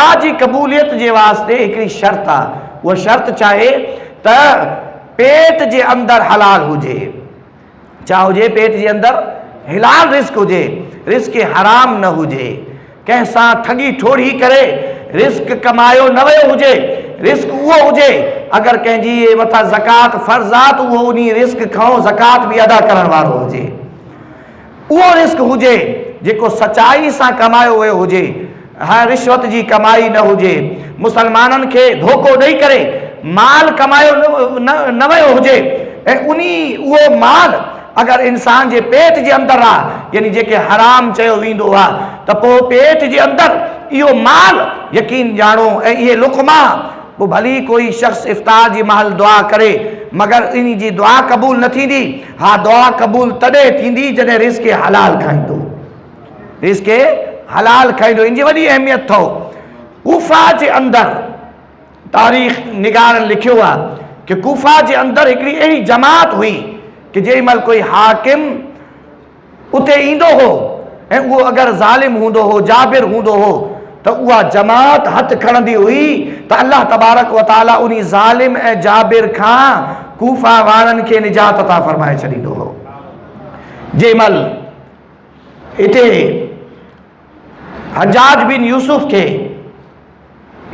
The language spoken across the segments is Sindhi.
دعا جي قبوليت جي واسطي هڪڙي شرط آ، اها شرط چاهي ته پيٽ جي اندر حلال هجي، ڇا هجي پيٽ جي اندر حلال رزق هجي، رزق حرام نه هجي، ڪنهن سان ٺڳي ٺوڙهي ڪري رزق ڪمايو نه ويو هجي، رزق اهو هجي، اگر ڪنهن جي مٿان زڪوات فرض آ ته اهو انهي رزق کانئون زڪوات به ادا ڪرڻ وارو هجي. اهو رزق هجي جيڪو سچائي سان ڪمايو ويو هجي ۽ رشوت جي ڪمائي نه هجي، مسلمانن کي ڌوڪو ڏئي ڪري مال ڪمايو نه ويو هجي ۽ انهي اهو مال اگر انسان جي پيٽ جي اندر آ يعني جنهن کي حرام چيو ويندو آ ته پوء پيٽ جي اندر اهو مال يقين ڄاڻو ۽ اهي لقما پوء ڀلي ڪوئي شخص افطار جي مهل دعا ڪري مگر انهي جي دعا قبول نه ٿيندي. اھا دعا قبول تڏھن ٿيندي جڏھن رزق حلال کائيندو. رزق حلال کائيندو ان جي وڏي اھميت اٿئو. ڪوفه جي اندر تاريخ نگارن لکيو آ ڪه ڪوفه جي اندر ھڪڙي اھڙي جماعت ھئي ڪه جنھن مھل ڪوئي حاڪم، اتي ايندو هو ۽ اهو اگر ظالم هوندو هو، جابر هوندو هو ته اها جماعت هٿ کڻندي هئي ته الله تبارڪ و تعاليٰ انهي ظالم ۽ جابر کان ڪوفه وارن کي نجات عطا فرمائي ڇڏيندو هو. جنهن مهل اتي حجاج بن يوسف کي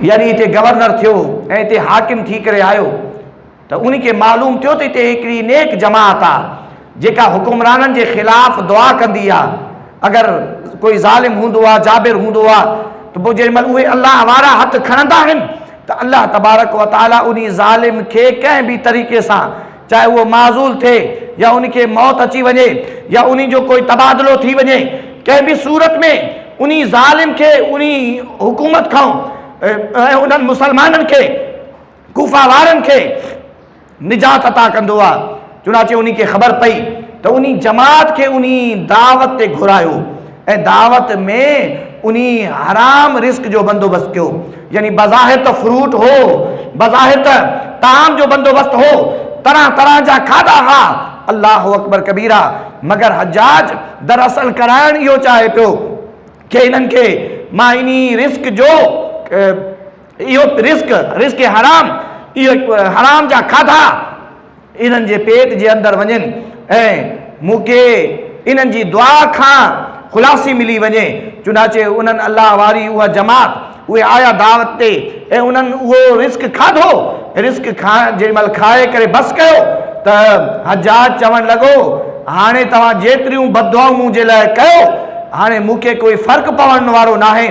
يعني اتي گورنر ٿيو ۽ اتي حاڪم ٿي ڪري آيو، ته ان کي معلوم ٿيو ته هتي هڪڙي نيڪ جماعت آ جيڪا حڪمرانن جي خلاف دعا ڪندي آ اگر ڪوئي ظالم هوندو آ جابر هوندو آ ته پوء جيڏي مهل اهي الله وارا هٿ کڻندا آهن ته الله تبارڪ و تعالي انهي ظالم کي ڪنهن به طريقي سان چاهي اهو معزول ٿئي يا ان کي موت اچي وڃي يا انهي جو ڪوئي تبادلو ٿي وڃي ڪنهن به صورت ۾ انهي ظالم کي انهي حڪومت کان ۽ انهن مسلمانن کي ڪوفه وارن کي نجات عطا ڪندو آ، چنانچه انهي کي خبر پئي ته انهي جماعت کي انهي دعوت تي گهرايو ۽ دعوت ۾ انهي حرام رزق جو بندوبست ڪيو، يعني بظاهر ته فروٽ هو، بظاهر ته طعام جو بندوبست هو، طرح طرح جا کاڌا ها، الله اڪبر ڪبيرا، مگر حجاج در اصل ڪرائڻ اهو چاهي پيو ڪي هنن کي مان انهي رزق جو اهو رزق، رزق حرام، اهي حرام جا کاڌا انهن جي پيٽ جي اندر وڃن ۽ مون کي انهن جي دعا کان خلاصي ملي وڃي. چنانچه انهن، الله واري اها جماعت، اهي آيا دعوت تي ۽ انهن اهو رزق کاڌو، رزق کان جيڏي مهل کائي ڪري بس ڪيو ته حجاج چوڻ لڳو، هاڻي توهان جيتريون بددعائون مون جي لاء ڪيو، هاڻي مون کي ڪوئي فرق پوڻ وارو ناهي.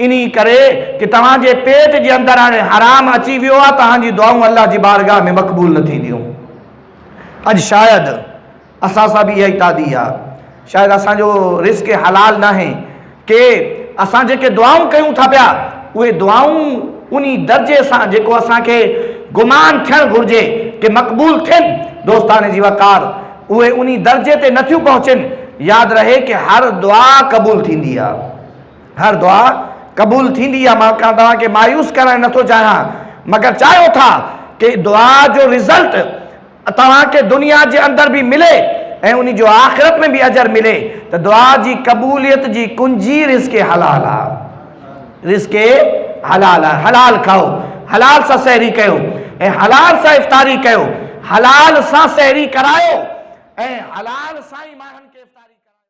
انهي ڪري ڪي توهان جي پيٽ جي اندر هاڻي حرام اچي ويو آ توهان جي دعائون الله جي بارگاھ ۾ مقبول نه ٿينديون اڄ شايد اسان سان به اها ئي تادي آ شايد اسان جو رزق حلال ناهي ڪي اسان جيڪي دعائون ڪيون ٿا پيا اهي دعائون انهي درجي سان جيڪو اسان کي گمان ٿيڻ گهرجي ڪي مقبول ٿين دوستان جي وقار اهي انهي درجي تي نه ٿيون پهچين ياد رهي ڪي هر دعا قبول ٿيندي آ. هر دعا قبول ٿيندي آ مان ڪا توهان کي مايوس ڪرڻ نٿو چاهيان مگر چاهيو ٿا ڪي دعا جو رزلٽ توهان کي دنيا جي اندر به ملي ۽ انهي جو آخرت ۾ به اجر ملي ته دعا جي قبوليت جي ڪنجي رزق حلال آ رزق حلال آ حلال کائو حلال سان سحري ڪيو ۽ حلال سان افطاري ڪيو حلال سان سحري ڪرايو ۽ حلال سان ئي ماڻهن کي افطاري